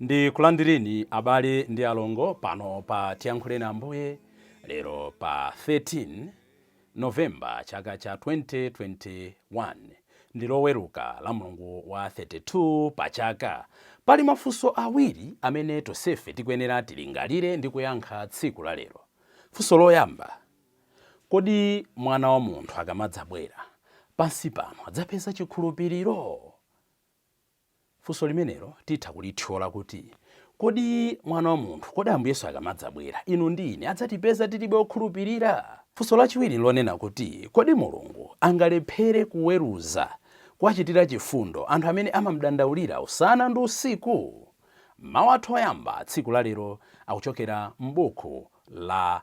Ndikulandireni abale ndi alongo pano pa Tiyankhuleni Ambuye lero pa 13 November chaka cha 2021. Ndi loweruka la mlungu wa 32 pa chaka. Pali mafunso awiri amene tonsefe tikuyenera tilingalire ndi kuyankha tsiku la lero. Funso loyamba, Kodi mwana wa munthu akamadzabwera pansi pano adzapeza chikhulupiriro? Funso limenelo titha kulithyola kuti, Kodi Mwana wa munthu, kodi Ambuye Yesu akamadzabwera, inu ndi ine adzatipeza tili be okhulupirira? Funso lachiwiri nlonena kuti, Kodi Mulungu angalephere kuweruza, kuwachitira chifundo, anthu amene amamdandaulira usana ndi usiku? Mawu athu oyamba tsiku lalero akuchokera m'buku la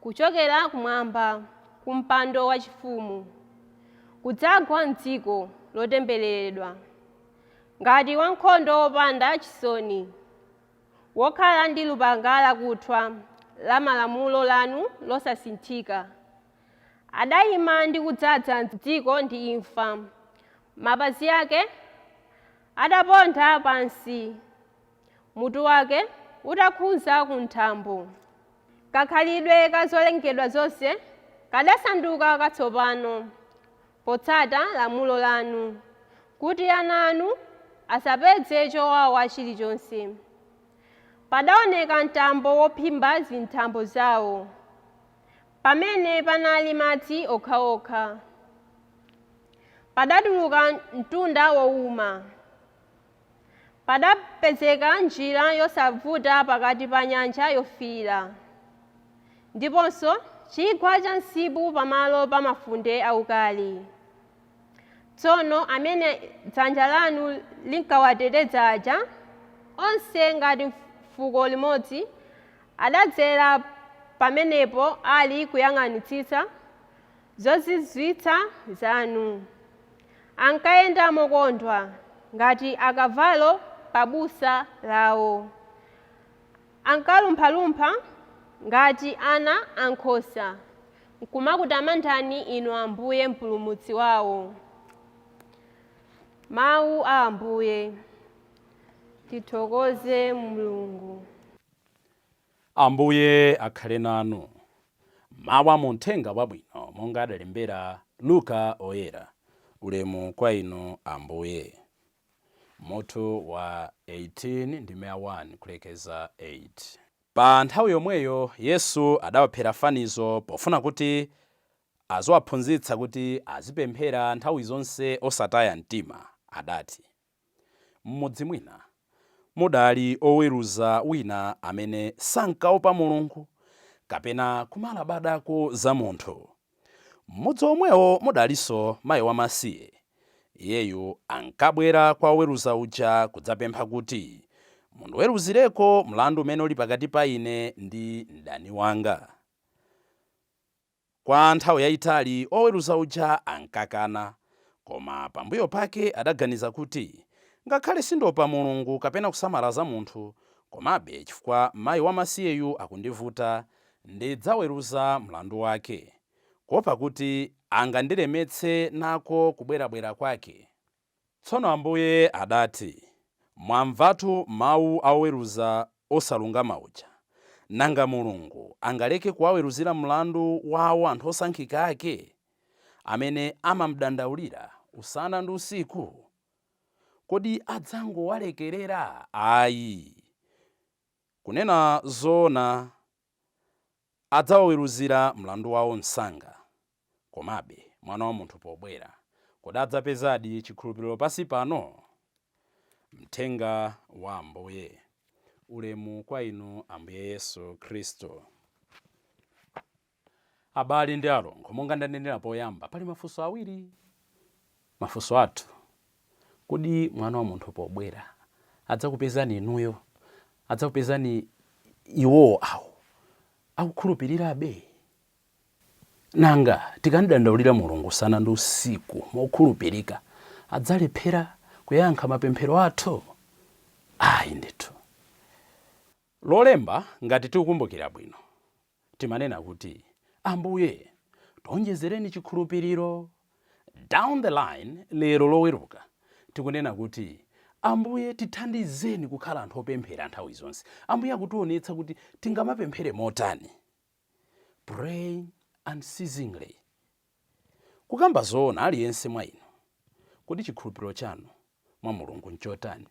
kuchokera kumwamba, ku mpando wachifumu, kudzagwa m'dziko lotembereredwa ngati wankhondo wopanda chisoni wokhala ndi lupanga lakuthwa la malamulo lanu losasinthika, adaima ndi kudzaza dziko ndi imfa, mapazi ake adaponda pansi. mutu wake utakhudza ku nthambo. Kakhalidwe ka zolengedwa zonse kadasanduka katsopano potsata lamulo lanu, kuti ana anu asapeze chowawa chilichonse. Padaoneka mtambo wophimba zinthambo zao, pamene panali madzi okhaokha. Padatuluka mtunda wouma. Padapezeka njira yosavuta pakati pa Nyanja Yofiira ndiponso chigwa cha msipu pamalo pa mafunde aukali. Tsono amene dzanja lanu linkawateteza aja, onse ngati fuko limodzi, adadzera pamenepo ali kuyang'anitsitsa, zozizwitsa zanu. Ankayenda mokondwa ngati akavalo pa busa lawo. Ankalumphalumpha ngati ana a nkhosa n'kumakutamandani Inu Ambuye Mpulumutsi wawo. Mawu a Ambuye. Tithokoze Mulungu. Ambuye akhale nanu. Mawu a mu Mthenga Wabwino monga adalembera Luka Oyera, Ulemu kwa Inu Ambuye. Mutu wa 18 ndime ya 1 kulekeza 8. Pa nthawi yomweyo Yesu adawaphera fanizo pofuna kuti aziwaphunzitsa kuti azipemphera nthawi zonse osataya mtima, adati. M'mudzi mwina mudali oweruza wina amene sankaopa Mulungu kapena kumalabadako za munthu. M'mudzi omwewo mudalinso mayi wamasiye. Iyeyu ankabwera kwa oweruza uja kudzapempha kuti, Mundiweruzireko mlandu umene uli pakati pa ine ndi mdani wanga. Kwa nthawi yayitali oweruza uja ankakana. Koma pambuyo pake adaganiza kuti, Ngakhale sindiopa Mulungu kapena kusamala za munthu, komabe chifukwa mayi wamasiyeyu akundivuta, ndidzaweruza mlandu wake, kuopa kuti angandilemetse nako kubwerabwera kwake. Tsono Ambuye adati, Mwamvatu mawu a oweruza osalungama uja. Nanga Mulungu angaleke kuwaweruzira mlandu wawo anthu osankhika ake, amene amamdandaulira usana ndi usiku? Kodi adzangowalekerera? Ayi, kunena zoona. Adzawaweruzira mlandu wawo msanga. Komabe, Mwana wa munthu pobwera, kodi adzapezadi chikhulupiriro pansi pano? Mthenga wa Ambuye Ulemu kwa Inu Ambuye Yesu Khristu. Abale ndi alongo, monga ndanenera poyamba, pali mafunso awiri. Mafunso athu Kodi Mwana wa munthu pobwera adzakupezani inuyo, adzakupezani iwo awo akukhulupirirabe? Nanga tikamdandaulira Mulungu usana ndi usiku mokhulupirika, adzalephera kuyankha mapemphero athu? Ayi ndithu. Lolemba, ngati tikukumbukira bwino, timanena kuti, Ambuye, tionjezereni chikhulupiriro. Down the line lero Loweruka, tikunena kuti, Ambuye, tithandizeni kukhala anthu opemphera nthawi zonse. Ambuye akutionetsa kuti tingamapemphere motani. Praying unceasingly. Kukamba zoona, aliyense mwa inu, kodi chikhulupiriro chanu mwa Mulungu nchotani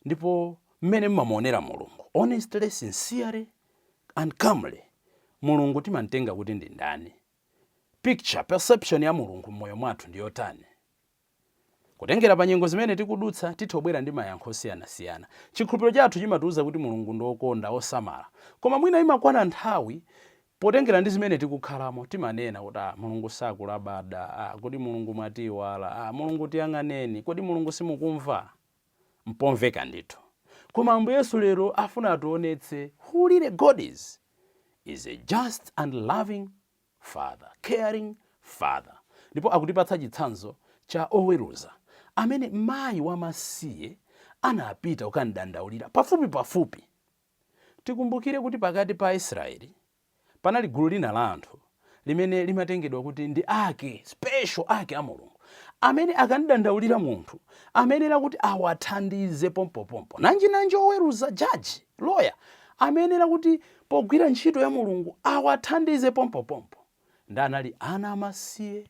ndipo mmene mmamuonera Mulungu? Honestly, sincerely and calmly, Mulungu timamtenga kuti ndi ndani? Picture, perception ya Mulungu mmoyo mwathu ndiyotani? Kutengera pa nyengo zimene tikudutsa, tithobwera ndi mayankho osiyanasiyana. Chikhulupiro chathu chimatiuza kuti Mulungu ndi wokonda, wosamala. Koma mwina imakwana nthawi, potengera ndi zimene tikukhalamo, timanena kuti, Ah, Mulungu sakulabada. Ah, kodi Mulungu mwatiiwala? Ah, Mulungu tiyang'aneni. Kodi Mulungu simukumva? Mpomveka ndithu. Koma Ambuye Yesu lero afuna ationetse who really God is. He's a just and loving. father, caring father. Ndipo akutipatsa chitsanzo cha oweruza amene mayi wamasiye anapita kukamdandaulira pafupi pafupi. Tikumbukire kuti pakati pa Aisraeli panali gulu lina la anthu limene limatengedwa kuti ndi ake, special ake a Mulungu, amene akamdandaulira munthu amayenera kuti awathandize pompopompo. Nanjinanji oweruza, judge, lawyer, amayenera kuti pogwira ntchito ya Mulungu awathandize pompopompo ndiye anali ana amasiye,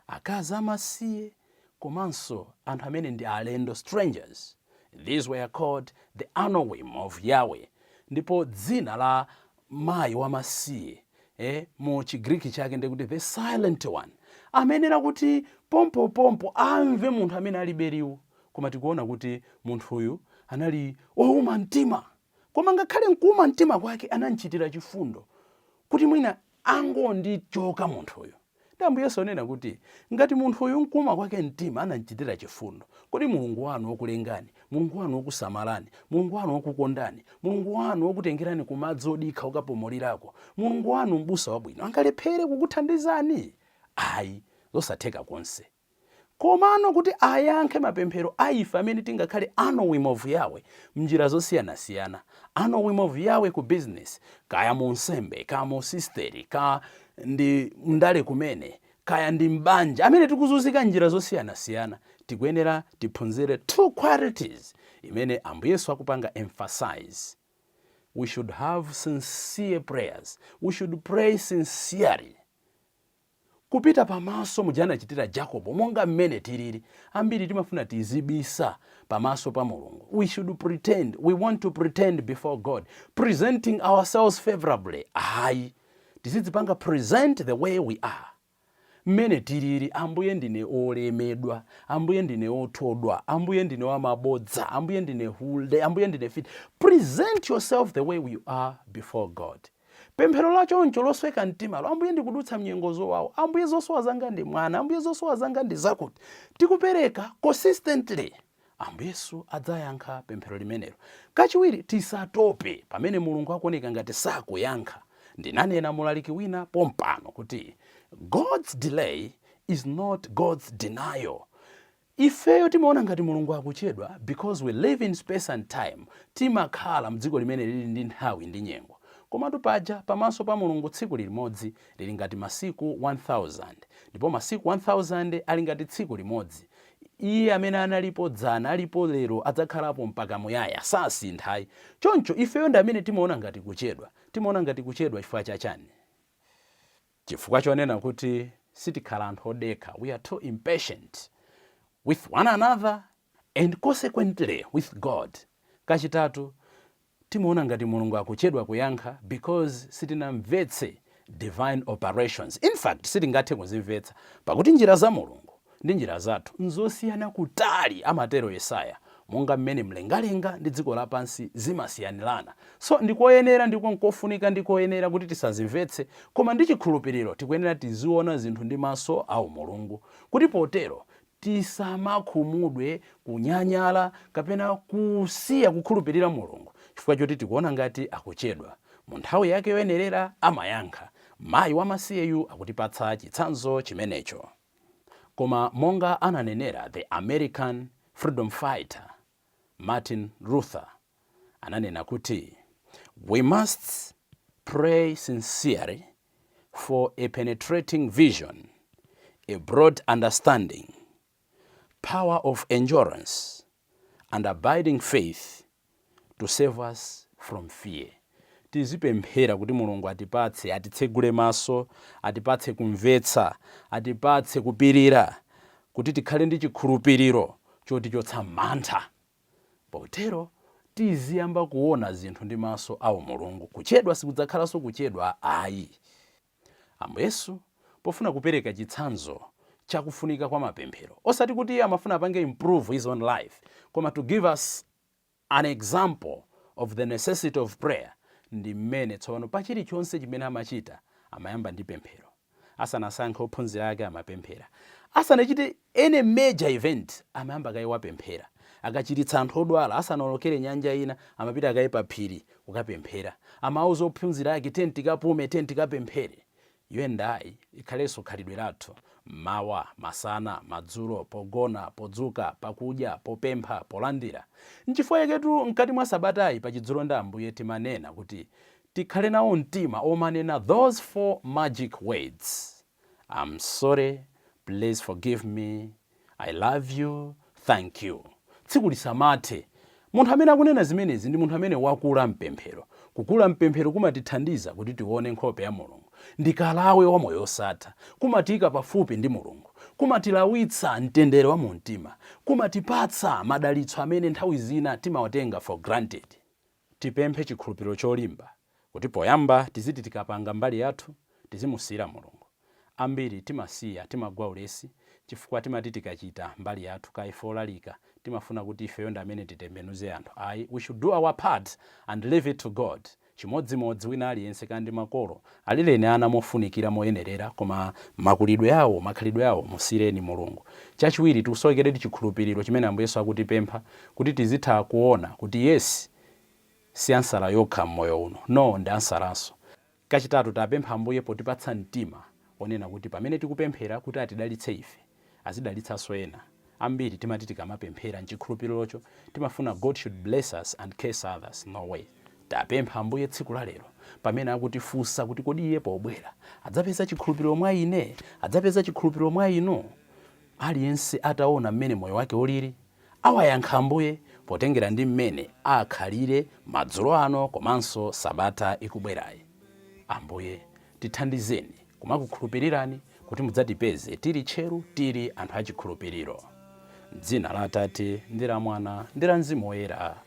akazi amasiye komanso anthu amene ndi alendo, strangers. These were called the Anawim of Yahweh. Ndipo dzina la mayi wamasiye mu Chigriki chake ndi kuti the silent one, amayenera kuti pompopompo amve munthu amene alibe liwu. Koma tikuona kuti munthuyu anali wouma mtima Koma ngakhale m'kuuma mtima kwake anam'chitira chifundo, kuti mwina angondichoka munthuyu. Ndiye Ambuye Yesu anena kuti, Ngati munthuyu m'kuuma kwake mtima anam'chitira chifundo, kodi Mulungu wanu wokulengani, Mulungu wanu wokusamalani, Mulungu wanu wokukondani, Mulungu wanu wokutengerani ku madzi odikha okapumulirako, Mulungu wanu Mbusa Wabwino angalephere kukuthandizani? Ayi, zosatheka konse! Komano kuti ayankhe mapemphero a ife amene tingakhale Anawim of Yahweh m'njira zosiyanasiyana, Anawim of Yahweh ku business, kaya mu unsembe, ka mu usisteri, ka ndi m'ndale kumene, kaya ndi m'banja, amene tikuzunzika m'njira zosiyanasiyana, tikuyenera tiphunzire two qualities imene Ambuye Yesu akupanga emphasize, We should have sincere prayers, we should pray sincerely. kupita pamaso muja anachitira Jacobo monga mmene tilili ambiri timafuna tizibisa pamaso pa Mulungu we should pretend we want to pretend before God presenting ourselves favorably ayi tizidzipanga present the way we are mmene tilili ambuye ndine olemedwa ambuye ndine othodwa ambuye ndine wamabodza ambuye ndine hule ambuye ndine mfiti present yourself the way you are before God Pemphero la choncho losweka mtimalo, Ambuye ndikudutsa mnyengo zowawa, Ambuye zosowa zanga ndi mwana, Ambuye zosowa zanga ndi zakuti, tikupereka consistently, Ambuye Yesu adzayankha pemphero limenelo. Kachiwiri, tisatope pamene Mulungu akuoneka ngati sakuyankha. Nde ananena mulaliki wina pompano kuti God's delay is not God's denial. Ifeyo timaona ngati Mulungu akuchedwa because we live in space and time, timakhala mdziko limene lili ndi nthawi ndi nyengo. Komatu paja pamaso pa Mulungu tsiku lilimodzi lili ngati masiku 1000, ndipo masiku 1000 ali ngati tsiku limodzi. Iye amene analipo dzana, alipo lero, adzakhalapo mpaka muyaya, sasintha ayi. Choncho ifeyo ndi amene timaona ngati kuchedwa. Timaona ngati kuchedwa chifukwa cha chani? Chifukwa chonena kuti sitikhala anthu odekha, we are too impatient with one another and consequently with God. Kachitatu, timaona ngati Mulungu akuchedwa kuyankha because sitinamvetse divine operations. In fact, sitingathe kuzimvetsa, pakuti njira za Mulungu ndi njira zathu n'zosiyana kutali, amatero Yesaya, monga mmene mlengalenga ndi dziko lapansi zimasiyanirana. So, ndi koyenera ndipo n'kofunika ndi koyenera kuti tisazimvetse, koma ndi chikhulupiriro tikuyenera tiziona zinthu ndi maso a umulungu, kuti potero tisamakhumudwe, kunyanyala, kapena kusiya kukhulupirira Mulungu chifukwa choti tikuona ngati akuchedwa. Mu nthawi yake yoyenerera amayankha. Mayi wamasiyeyu akutipatsa chitsanzo chimenecho. Koma monga ananenera the American freedom fighter Martin Luther ananena kuti, We must pray sincerely for a penetrating vision, a broad understanding, power of endurance, and abiding faith to save us from fear. Tizipemphera kuti Mulungu atipatse, atitsegule maso, atipatse kumvetsa, atipatse kupirira, kuti tikhale ndi chikhulupiriro chotichotsa mantha. Potero tiziyamba kuona zinthu ndi maso aumulungu. Kuchedwa sikudzakhalanso kuchedwa ayi. Ambuye Yesu, pofuna kupereka chitsanzo cha kufunika kwa mapemphero, osati kuti iye amafuna apange improve his own life, koma to give us an example of the necessity of prayer, ndi mmene tsopano pa chilichonse chimene amachita amayamba ndi pemphero. Asanasankhe ophunzira ake amapemphera. Asanachite Any major event amayamba kaye wapemphera. Akachiritsa anthu odwala asanaolokere nyanja ina, amapita kaye paphiri kukapemphera. Amauza ophunzira ake, Tiyeni tikapume, tiyeni tikapemphere. You and I ikhalenso khalidwe lathu. Mmawa, masana, madzulo, pogona, podzuka, pakudya, popempha, polandira. Nchifukwa chaketu mkati mwa sabatayi pa Chidzulo ndi Ambuye timanena kuti tikhale nawo mtima omanena those four magic words. I am sorry please forgive me i love you thank you tsiku lisamathe munthu amene akunena zimenezi ndi munthu amene wakula mpemphero kukula mpemphero kumatithandiza kuti tione nkhope ya mulungu ndi kalawe wa moyo wosatha kumatiika pafupi ndi mulungu kumatilawitsa mtendere wa mu mtima kumatipatsa madalitso amene nthawi zina timawatenga for granted Tipemphe chikhulupiriro cholimba kuti poyamba tiziti tikapanga mbali yathu tizimusiyira Mulungu. Ambiri timasiya, timagwa ulesi chifukwa timati tikachita mbali yathu kaya ife olalika timafuna kuti ifeyo ndi amene titembenuze anthu ayi we should do our part and leave it to God chimodzimodzi wina aliyense kaya ndi makolo Alileni ana mofunikira moyenerera koma makulidwe awo, makhalidwe awo musiyireni Mulungu. Chachiwiri, tikusowekeredi chikhulupiriro chimene Ambuye Yesu akutipempha kuti tizitha kuona kuti yes si ansala yokha m'moyo uno, no ndi ansalanso. Kachitatu, tapempha Ambuye potipatsa mtima onena kuti pamene tikupemphera kuti atidalitse ife, azidalitsanso ena. Ambiri timati tikamapemphera mchikhulupilirocho timafuna God should bless us and curse others, no way. Tapemphani Ambuye tsiku la lero pamene akutifunsa kuti kodi iye pobwera adzapeza chikhulupiliro mwa ine? Adzapeza chikhulupiliro mwa inu? Aliyense ataona mmene moyo wake ulili Awayankhe Ambuye potengera ndi mmene akhalire madzulo ano komanso sabata ikubwerayi. Ambuye, tithandizeni kumakukhulupirirani kuti mudzatipeze tili tcheru, tili anthu achikhulupiriro. M'dzina la Atate, ndi la Mwana, ndi la Mzimu Woyera.